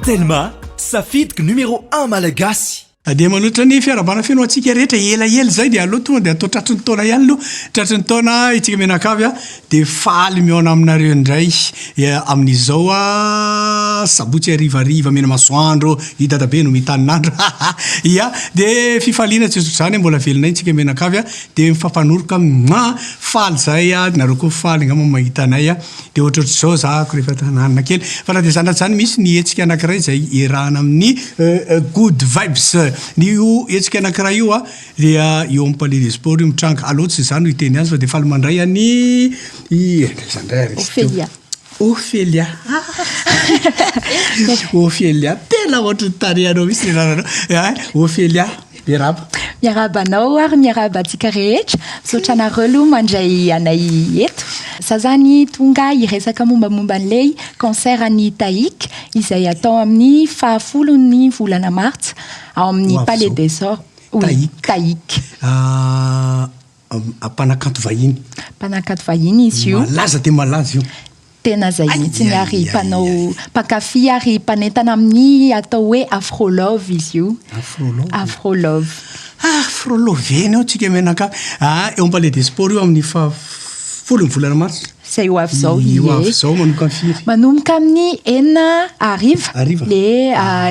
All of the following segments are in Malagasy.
Telma, safidiko numéro un malagasy. Dia manohitra ny fiarahabana feno ho antsika rehetra elaela izay dia aleo tonga dia atao tratry ny taona ihany aloha tratry ny taona itsika mianakavy a dia faly mihaona aminareo indray amin'izao sabotsy harivariva mena masoandro i dadabe no mitanin'andro ya dia fifaliana tsy ohatr'izany mbola velona iny tsika mianakavy a dia mifampanoroka mua faly zay a nareo koa faly angamba mahita anay a Dia ohatrohatr'izao zahako rehefa tananina kely. Fa na dia izany na izany misy ny hetsika anankiray izay iarahana amin'ny Good Vibes. Ny io hetsika anankiray io dia eo amin'ny Palais des Sports io mitranga. Aleo tsy izaho no hiteny azy fa dia faly mandray an'i aiza indray ary izy teo? Ophelia. Ophelia. Ophelia. Tena ohatry ny tarehanao mihitsy ny anaranao. Ophelia. Miarahaba. Miarahaba anao ary miarahaba antsika rehetra. Misaotra anareo aloha mandray anay eto. Za zany tonga hiresaka mombamomba an'ilay concert an'i Tahic izay hatao amin'ny fahafolon'ny volana martsa ao amin'ny Palais des Sports. Tahic. Tahic. Ah, Mpanakanto vahiny. Mpanakanto vahiny izy io. Malaza dia malaza io. Tena izay mihitsy ary mpanao mpankafy ary mpanentana amin'ny atao hoe Afro Love izy io. Afro Love. Afro Love. Afro Love eny eo tsika mianakavy. Ah, eo am-palais des sports io amin'ny faha folo ny volana marsa. Izay ho avy izao ie. Ny ho avy izao manomboka amin'ny firy? Manomboka amin'ny enina hariva. Hariva? Le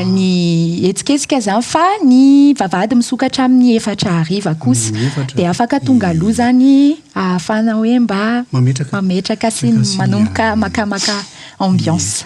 ny hetsiketsika izany fa ny vavahady misokatra amin'ny efatra hariva kosa. Ny efatra. Dia afaka tonga aloha izany ahafahana hoe mba. Mametraka. Mametraka sy manomboka makamaka ambiance.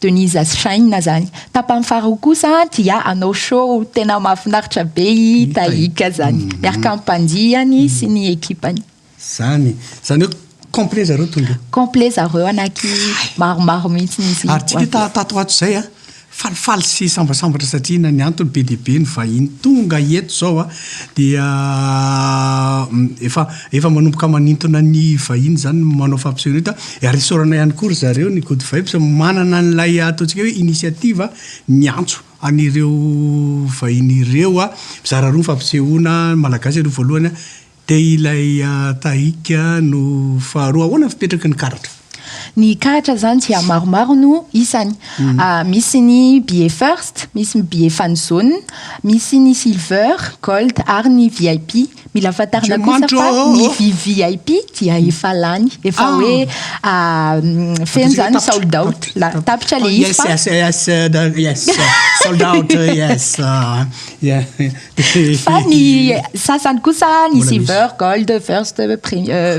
Denise Aschaina zany. Tapany faharoa kosa dia hanao show tena mahafinaritra be i Tahiaka zany. Miaraka amin'ny mpandiany sy ny ekipany. Zany. Zany hoe complet zareo tonga eo. Complet zareo anaky maromaro mihitsy izy. Ary tsy te tato ho ato izay an. Falifaly sy sambasambatra satria inona ny antony be dia be ny vahiny tonga eto izao an. Dia efa. Efa manomboka manintona ny vahiny izany ny manao fampisehoana eto a. Ary isaorana ihany koa ry zareo ny Good Vibes manana an'ilay ataontsika hoe initiative miantso an'ireo vahiny ireo a, mizara roa ny fampisehoana, ny Malagasy aloha voalohany a, dia ilay Tahik no faharoa. Ahoana ny fipetraky ny karatra? Ny karatra izany dia maromaro no isany. Mhm. Ah, misy ny billet first, misy ny billet fan zone, misy ny silver, gold ary ny VIP. Mila fantarina kosa fa ny VVIP dia mhm. efa lany, efa ah. hoe ah, mm, feno izany ny sold out. Tapitra ilay oh, izy fa... Yes, yes, yes, yes, sold out, yes. Ah, yeah. Fa ny sasany kosa ny silver, gold, first,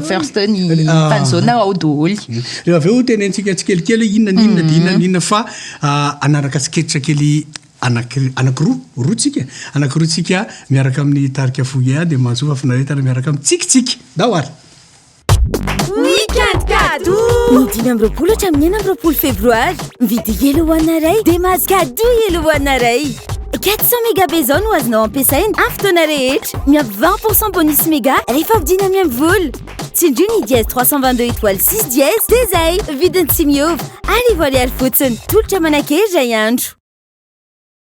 first ny tanzona ao doholy. Reo avy eo tenentsika tsikelikely hoe inona ny inona dia inona ny inona fa anaraka tsiketra kely anakiroa, roa tsika, anakiroa tsika miaraka amin'ny tarika Fouillea dia mahasoa fahafinaretana miaraka amin'ny tsiky tsiky. Ndao ary. Weekend Kado! Ny dimy amby roapolo hatramin'ny enina amby roapolo febroary. Mividy Yellow One iray dia mahazo kado Yellow One iray. 400 mégas be izao no azonao ampiasaina amin'ny fotoana rehetra. Miampy 20% bonus méga rehefa vidina amin'ny amin'ny vola. Tsindrio ny dièse 322 étoile 6 dièse dia izay. Vidiny tsy miova. Arivo ariary fotsiny. Tolotra manankery iray andro.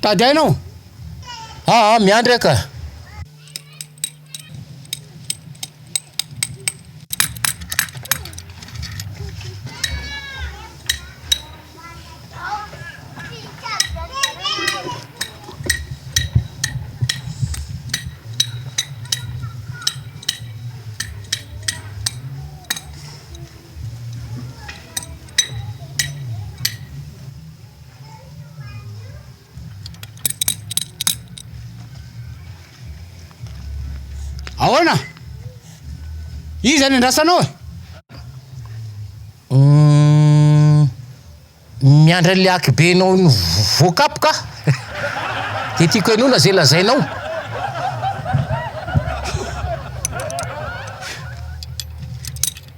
Tady aina aho. Aa, ah, miandry aho ka. Ahoana? Iza ny andrasanao e? Hmm, miandry an'le hakibenao ny voakapoka aho. Dia tiako henoina izay lazainao.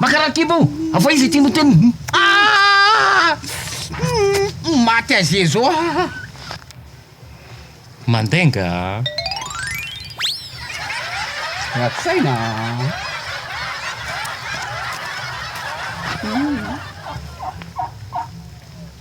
Makarary kibo o! Avoay izy ity moteny hum aah! Maty azezo aah! Mandainga aah! Ratsy saina aah!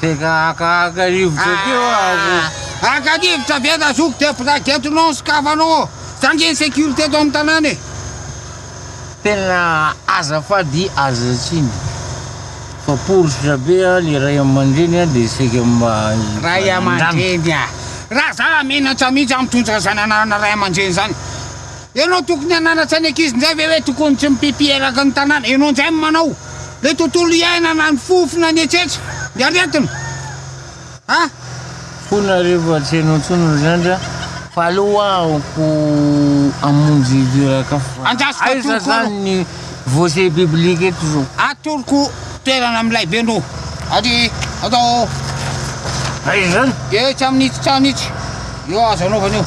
Tena haka haka rivotra ah, teo ako. Haka rivotra be da zoky dia bragetinao sokafanao. Zandry ny sécurité eto amin'ny tanàna e. Tena aza fady aza tsiny. Fa poritra be ny ray aman-dreny dia saika mba ray aman-dreny. Raha za menatra mihitsy amitondra zananana ray aman-dreny zany. Ianao tokony hananatra ny ankizy ndray ve hoe tokony tsy mipipi eraky ny tanàna? Ianao ndray no manao le tontolo iainana ny fofona ny etsetra ny aretina a! Fony arivo atsy ianao intsony ry zandry a! Fa aleo hoa aoka hamonjy iraka fa aiza zany ny voce biblique eto zao? Atoroko toerana milay be no ary atao aiza zany? Etsy amin'ity trano itsy eo azo anaovana eo.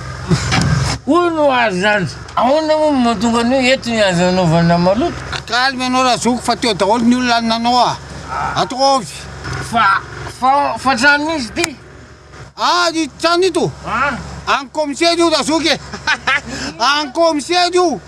Hono ho azy izany, ahoana moa no mahatonga an'io eto ny azo anaovana maloto? Calme ianao Razoky fa teo daholo ny olona nanao a! Ataovy! Fa, fa, fa trano misy ity? An ito trano ito? An. An komisera io Razoky e! An komisera io!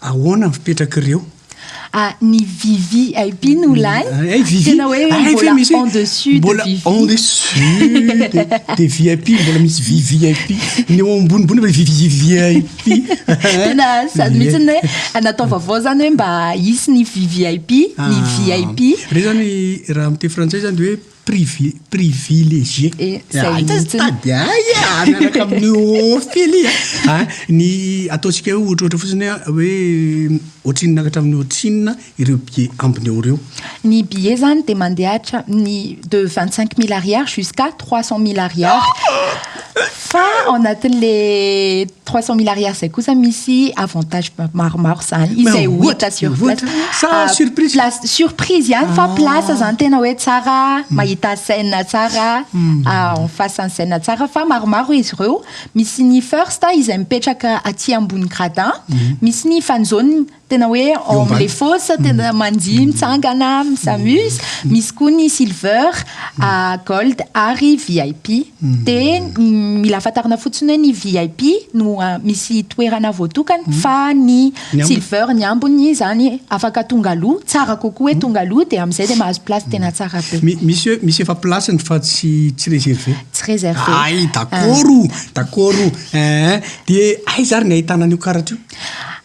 Ahoana ny fipetrak'ireo? Ah, ny VVIP no lany. Eh, eh, VV. Tena hoe Ay, mbola misy- en dessus de mbola VV. en dessus de, de VIP, mbola misy VVIP. Ny eo ambonimbony mbola VVIP. Tena sady mihitsy ny hoe natao vaovao zany hoe mba hisy ny VVIP, ny Ah. VIP. Re zany raha amin'ny teny frantsay zany de hoe privi privilégié Zay ah ita mihitsy. tady ahy ah miaraka amin'ny Ophelia a ny ataontsika hoe ohatrohatra fotsiny a hoe ohatrinona hatramin'ny ohatrinona ireo billets ambiny eo ireo. Ny billet zany dia mandeha hatramin'ny de vingt cinq mille ariary jusqu'à trois cent mille ariary fa ao anatin'le Trois cent mille ariary izay kosa misy avantage maromaro izany izay ho hita sur place. Sa ah, surprise? Place surprise ihany fa ah. place izany tena hoe tsara hmm. mahita scène tsara hmm. ah, en face en scène tsara fa maromaro izy ireo. Misy ny first izay mipetraka aty ambony gradin, hmm. misy ny fanzone Tena hoe ao amin'ny les fosses, tena mandihy mitsangana, s'amuse. Misy koa ny silver, ah, gold ary VIP. Dia mila fantarina fotsiny hoe ny VIP no ah, misy toerana voatokana fa ny Ny ambiny. silver, ny ambiny izany afaka tonga aloha, tsara kokoa hoe tonga aloha dia amin'izay dia mahazo place tena tsara be. Mi- Misy hoe misy efa place-ny fa tsy tsy reservé. Tsy reservé. Ay, dakoro, dakoro. Eeh. Dia aiza ary ny ahitana an'io karatra io?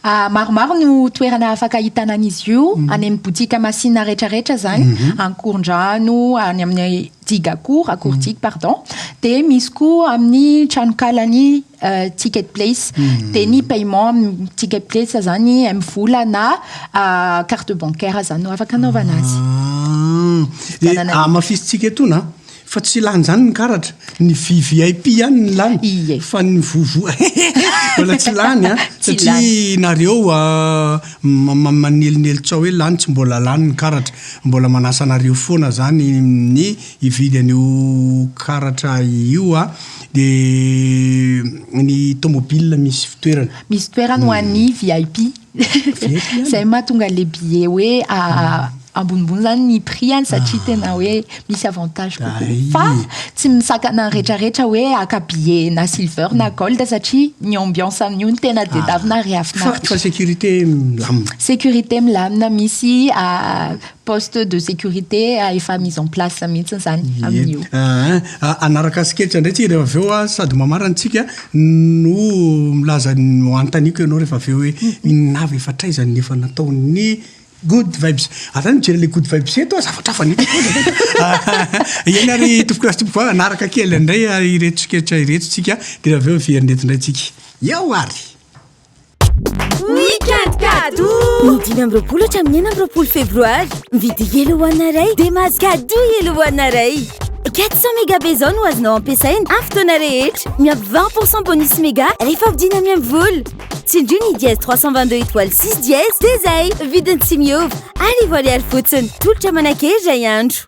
Ah, maromaro no toerana afaka ahitana an'izy io, mhm. any amin'ny botika masina rehetrarehetra zany, mhm. ankorondrano, any amin'ny diga akory, akory diga, mhm. pardon. Dia misy koa amin'ny tranonkalan'ny euh, ticket place. Dia ny paiement amin'ny ticket place zany amin'ny vola na euh, carte bancaire zany no afaka anaovana azy. Ah. Dia amafisintsika etona Fa tsy lany zany ny karatra, ny vvip ihany no lany fa ny vovo mbola tsy lany an! satria nareo manelinely tso hoe lany, tsy mbola lany ny karatra, mbola manasa anareo foana zany ny hividy an'io karatra io an! de ny tomobile misy fitoerany. Misy toerany ho an'ny vvip. Zay mahatonga le billet hoe ambonimbony zany ny prix any satria ah. tena hoe misy avantage kokoa fa tsy misakana retraretra hoe aka billet na silver na mm. gold satria ny ambiance amin'io ny tena dedavina ah. rehafinaritra sécurité milamina sécurité milamina misy ah, Poste de sécurité efa mise en place mihitsy izany amin'io. Hanaraka asiketra indray tsika rehefa avy eo sady mamarana antsika no milaza ny anontaniako ianao rehefa avy eo hoe inona avy efa hatraiza ny efa nataon'ny Good Vibes. Ary zany mijery ilay Good Vibes eto zavatra hafa ny eto. Eny ary tompoko lasa tompoko vava hanaraka kely indray ireto siketra ireto tsika dia avy eo very ny eto indray tsika. Eo ary! Weekend Kado! Ny dimy amby roapolo hatramin'ny enina amby roapolo febroary. Mividy Yellow One iray dia mahazo kado Yellow One iray. 400 méga be izao no azonao ampiasaina amin'ny fotoana rehetra. Miampy 20 pour cent bonus méga rehefa vidina miamivola. Tsindrio ny dièse 322 étoile 6 dièse dia izay. Vidiny tsy miova, arivo ariary fotsiny. Tolotra manankery iray andro.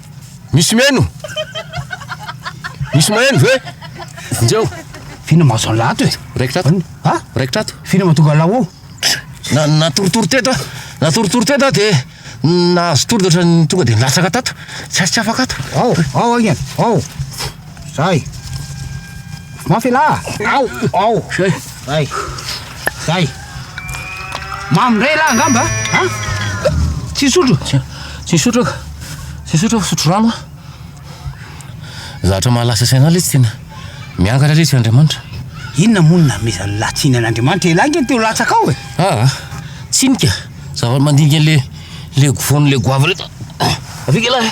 Misy mihaino? Misy mahaino ve? Njeo! F'inona ma zao an'lah ato e? Raikitra ato. Ha? Raikitra ato. F'inona ma tonga an'lah ao? Na natoritory teto aho. Natoritory teto aho dia nahazo tory dia ohatran'ny tonga dia nilatsaka tato. Tsy tsy afaka ato. Ao, ao agne. Ao. Zay. Mafy elah. Ao, ao. Zay. Zay. Zay. Mamy ndray lahy angamba a? Tsy hisotro? Tsy hisotro aho. Tsy hisotro aho, sotro rano aho. Zavatra mahalasa saina ilay tsy tena miangatra ilay tsy Andriamanitra. Inona moa no namezan'ny lahy tsiny an'Andriamanitra? Elah nge ny teo latsaka ao e. Ah, tsinika. Zavatra mandinika le le gofon'le goavana eto. Avia nge lahy.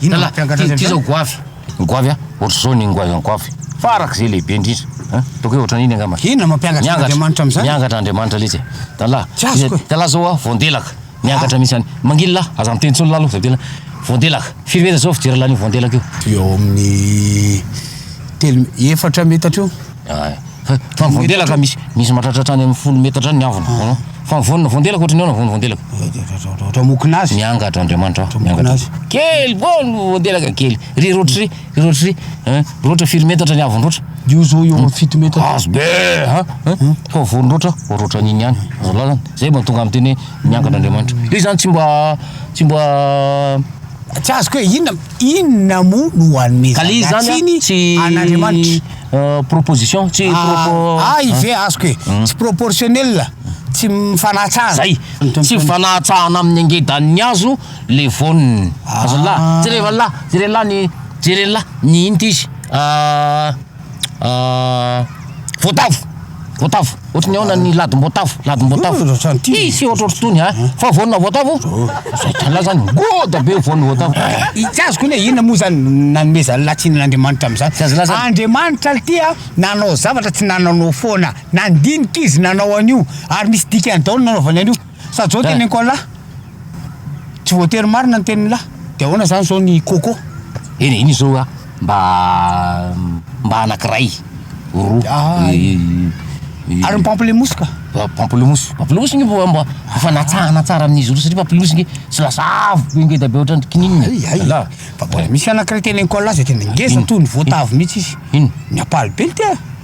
Inona no mpiangatr'azy amin'izany? Ty zao goavy, ny goavy an, ohatr'izao ny goavy an goavy, farak'izay lehibe indrindra an, ataoko hoe ohatran'iny angamba. Inona no mampiangatra an'Andriamanitra amin'izany? Miangatra Andriamanitra letsy e! Dalahy, Tsy azoko e! dalahy zao an, voandelaka, miangatra mihitsy any, manginy lahy, aza miteny intsony lahy aloha fa tena, voandelaka, firy metatra zao fijery lahin'io voandelaka io? Eo amin'ny telo, efatra metatra eo. Ay. Fa ny voandelaka ka misy misy mahatratra hatrany amin'ny folo metatra any ny avony. Hitanao? Fa ny voanina voandelaka ohatry ny ahoana ny voan'ny voandelaka? Ohatry hamokona azy. Miangatra Andriamanitra ao, miangatra. azy. Kely boa ny voandelaka kely. Ry roatra ry, ry roatra ry. Hein? Roatra firy metatra ny avony roatra? Io zao eo amin'ny fito metatra. Azy be ha. Hein? Fa voan'ny roatra, roatra an'iny ihany. Azo lazana. Zay mba tonga amin'ny teny hoe miangatra Andriamanitra. Io izany tsy mba tsy mba Tsy azoko hoe inona inona moa no Ka le izy zany hanomezana an, tsiny tsy an'Andriamanitra. proposition tsy propo ay ve azoko e tsy proportionnel tsy mifanahatsahana zay tsy mifanahatsahana amin'ny angedan'ny hazo le voniny azalahy jereo anla jereo anla ny jereo anla ny inona ty izy voatavo Voatavo. Ohatry ny ahoana ny ladim-boatavo? Ladim-boatavo. Hisy ohatrohatry itony a. Fa voanina voatavo? Izay tala zany. Goda be voanina voatavo. Tsy azoko ny hoe inona moa zany nanomezany latsina an'Andriamanitra amin'izany. Tsy azo laza ny. Andriamanitra ity a, nanao zavatra tsy nananao foana. Nandinika izy nanao an'io. Ary misy dikany daholo ny nanaovany an'io. Sa John teny Ankoalahy? Tsy voatery marina ny tenin'lah. Dia ahoana izany izao ny Coco? Eny e, iny izao a, mba mba anankiray, roa, Ay. i- i- i- Ary ny pamplemousse ka? Pa- Pamplemousse, pamplemousse nge mba mba efa natsahana tsara amin'izy roa satria pamplemousse nge tsy lasa avo be ngeda be ohatran'ny kininina. Ay, ay. Alà. Fa mbola misy anankiray teny Ankoalahy izay tena ngeza Ino? toa ny voatavo mihitsy izy. Ino? Ny ampalibe ny tena.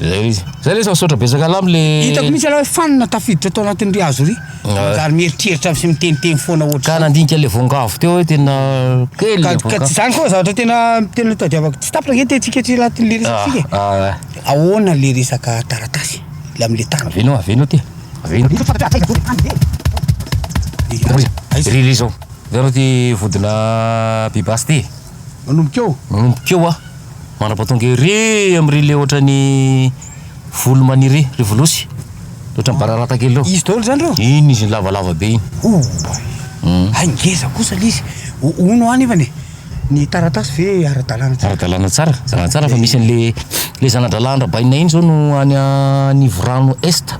Zay izy. Zay lesy misaotra betsaka anao am le Hitako mihitsy aloha hoe fanina tafiditra tao anatin ry hazo ry. Manjary mieritreritra sy miteniteny foana Ka ohatr'izany. nandinika le voangavo teo hoe tena kely Ka le ka tsy voankazo. zany koa zavatra tena tena tadiavako. Tsy tapitra ange tetsika aty anatin le resaka tsika e. Ah, ah, ah. Ahoana le resaka taratasy le am le tany. Aveno, aveno aty. Aveno. Iry, iry zao. Aveno ty vodina pibasy ty. Manomboka eo? Manomboka eo aho. Mandrapatonga ery amin'ry le ohatran'ny volo maniry ry volosy. Le ohatran'ny bararata kely reo. Izy daholo zany reo? Iny izy iny lavalava be iny. Oay! Hay ngeza kosa le izy. Hono hoa nefany e, ny taratasy ve ara-dalàna tsara? Ara-dalàna tsara, ara-dalàna tsara fa misy an'le, le zana-drahalahin-dRabainina iny zao no any Anivorano Est.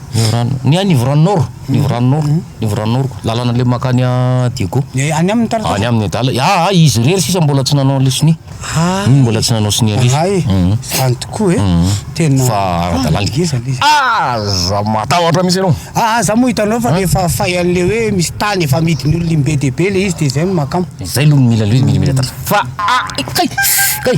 Nivoran ny an Nivoran Nord Nivoran Nord Nivoran Nord ko lalana le makany a Diego Ny any aminy tara any aminy adala aa ah, izy irery sisa mbola tsy nanao le sonia ah, umm mbola tsy nanao sonia ndrisy ahay umm zany tokoa e umm tena fa ara dalana ngeza le izy ah za matahotra mintsy anao ah ah za moa hitanao fa refa fay any le hoe misy tany efa amidiny olona im be dia be le izy de zay no makama zay lo no mila le izy mila mila tara fa ah kay kay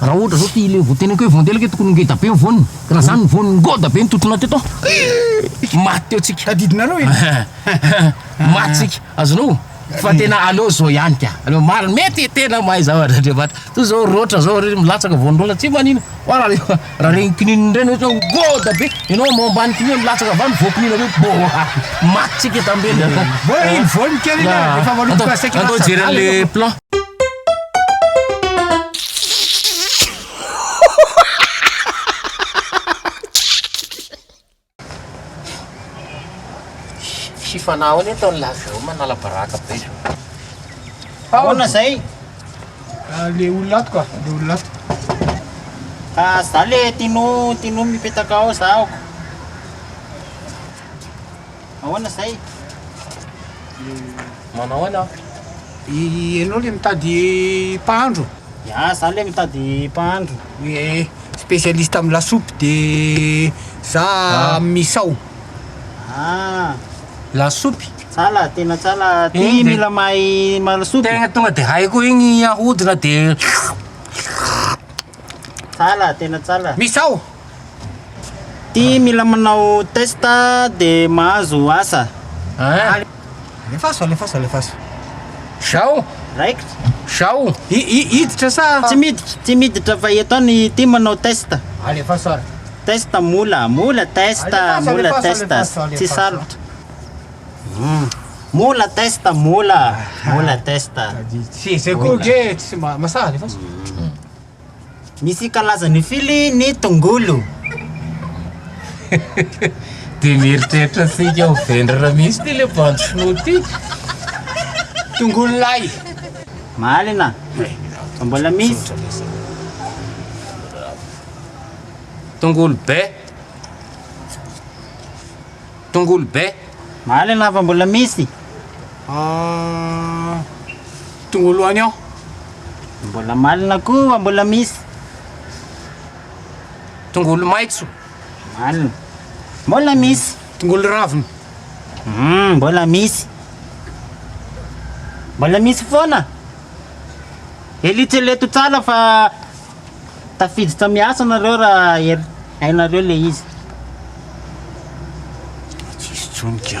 Raha ohatra zao ty le voateneniko hoe vondelaka tokony ho ngeda be ny voany ka raha zany ny voany ngoda be ny tontona teto maty teo tsika Tadidinareo e maty tsika azonao fa tena aleo zao ihany ka aleo marina mety tena mahay zavatra Andriamanitra toy zao roatra zao re milatsaka voany roatra tsy manina fa raha rehefa raha regny kininina ireny ohatra hoe ngoda be ianao ambao ambany kinia milatsaka avy any voakinina be boaa maty tsika tambela Voa re ny voany kely iny a rehefa maloto ka saika lasa adala ianao. Sifanao anie tao laveo manala baraka be zao. Ahoana zay? Ah, le olona ato ka, le olona ato. Ah, za le tino, tino mipetaka ao za aoko. Ahoana izay? Manao ahoana aho? Ianao ilay mitady mpahandro? Ya, izaho ilay mitady mpahandro. Hoe spécialiste amin'ny lasopy dia za amin'ny misao. Ah, Lasopy? tsala, tena tsala. Ty Eny dia- mila mahay malasopy. Tegna tonga dia haiko igny ahodina dia Tsala, tena tsala. misao! Ty mila manao test de mahazo asa. An. Alefaso alefaso alefaso. Zao? Raikitra. Zao? Hiditra sa. Tsy miditra, tsy miditra fa eto any ty manao test. Alefaso ary. Test mola, mola test, mola test, tsy sarotra. Mola test, mola, mola test. Tsy zay koa nge tsy mahasahy, alefaso. Misy kalaza mifily ny tongolo. Dia mieritreritra sika ho vendrana mihitsy ty le bandy sinoa ty. Tongolo lay. Marina. Fa mbola misy. Tongolo be. Tongolo be. Marina fa mbola misy. Ah. tongolo oignon. Mbola malina koa mbola misy. Tongolo maitso. Malina. Mbola misy. Tongolo ravina. Hum, mbola misy. Mbola misy foana. Eletreletro tsara fa tafiditra miasa nareo raha er- hainareo le izy. Tsisy tsony ka.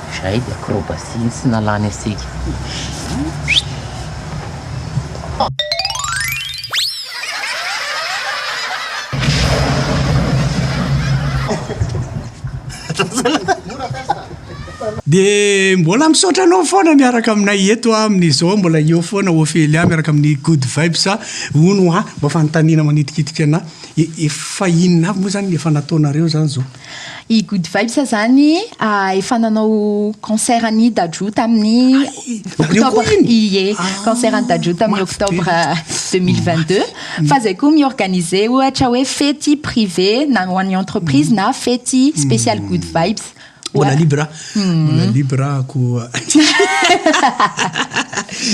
Zay de acrobatie tsy nalany asika. Dia mbola misaotra anao foana miaraka aminay eto a, amin'izao mbola eo foana Ophelia miaraka amin'ny Good Vibes a, hono hoa mba fanontaniana manitikitika anà, e, efa inona avy moa zany ny efa nataonareo zany zao? I Good Vibes izany efa nanao concert an'i Dadju tamin'ny octobre, ie, concert an'i Dadju tamin'ny octobre 2022. Fa izay koa mi-organiser ohatra hoe fety privé na ho an'ny entreprise na fety spéciale Good Vibes. Mbola libre aho. Mbola libre aho koa.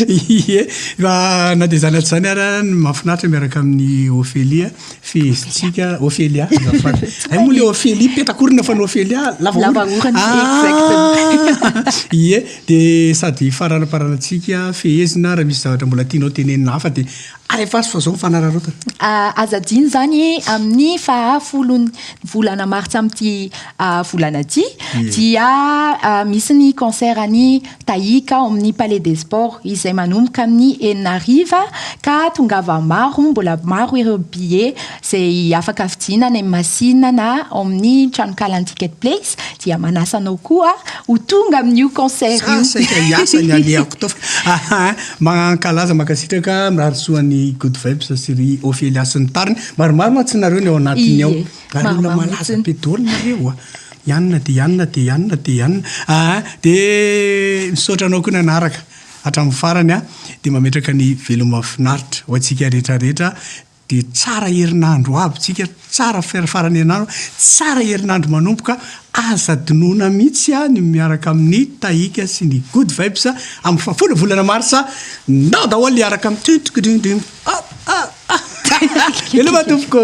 Ie. Fa na dia izany aza izany ary an, mahafinaritra miaraka amin'i Ophélie. Fehezintsika Ophelia azafady. Ay moa le Ophelia petakorina fa ny Ophelia lava orona. Lava orona ah! exactement. Ie de sady hifaranaparanantsika fehezina raha misy zavatra mbola tianao tenenina hafa de alefa azy fa zao mifanararaotana. Ah, aza adino izany amin'ny fahafolon'ny volana martsa amin'ity ah, volana ity dia ah, misy ny concert an'i Tahiaka ao amin'ny Palais des Sports izay manomboka amin'ny enina hariva ka tongava maro, mbola maro ireo billet izay afaka vidiana any amin'ny masina na ao amin'ny tranonkalan'ny Ticket Place dia manasa anao koa ho tonga amin'io concert io. Sa saika hiasa ny alehako tao fa aha a! Mankalaza, mankasitraka mirary soa an'i Good Vibes sy ry Ophelia sy ny tariny. Maromaro mantsy nareo ny ao anatiny ao. Ary olona malaza be daholo nareo a! Ianona dia ianona dia ianona dia ianona aa dia misaotra anao koa nanaraka hatramin'ny farany a dia mametraka ny veloma mafinaritra ho antsika rehetra rehetra dia tsara herinandro ho avy tsika tsara farany herinandro tsara herinandro manomboka aza adinoana mihitsy a ny miaraka amin'ny tahika sy ny good vibes amin'ny fahafolo volana marsa nao daholo hiaraka amin'ny tintgdingding a a a veloma tompoko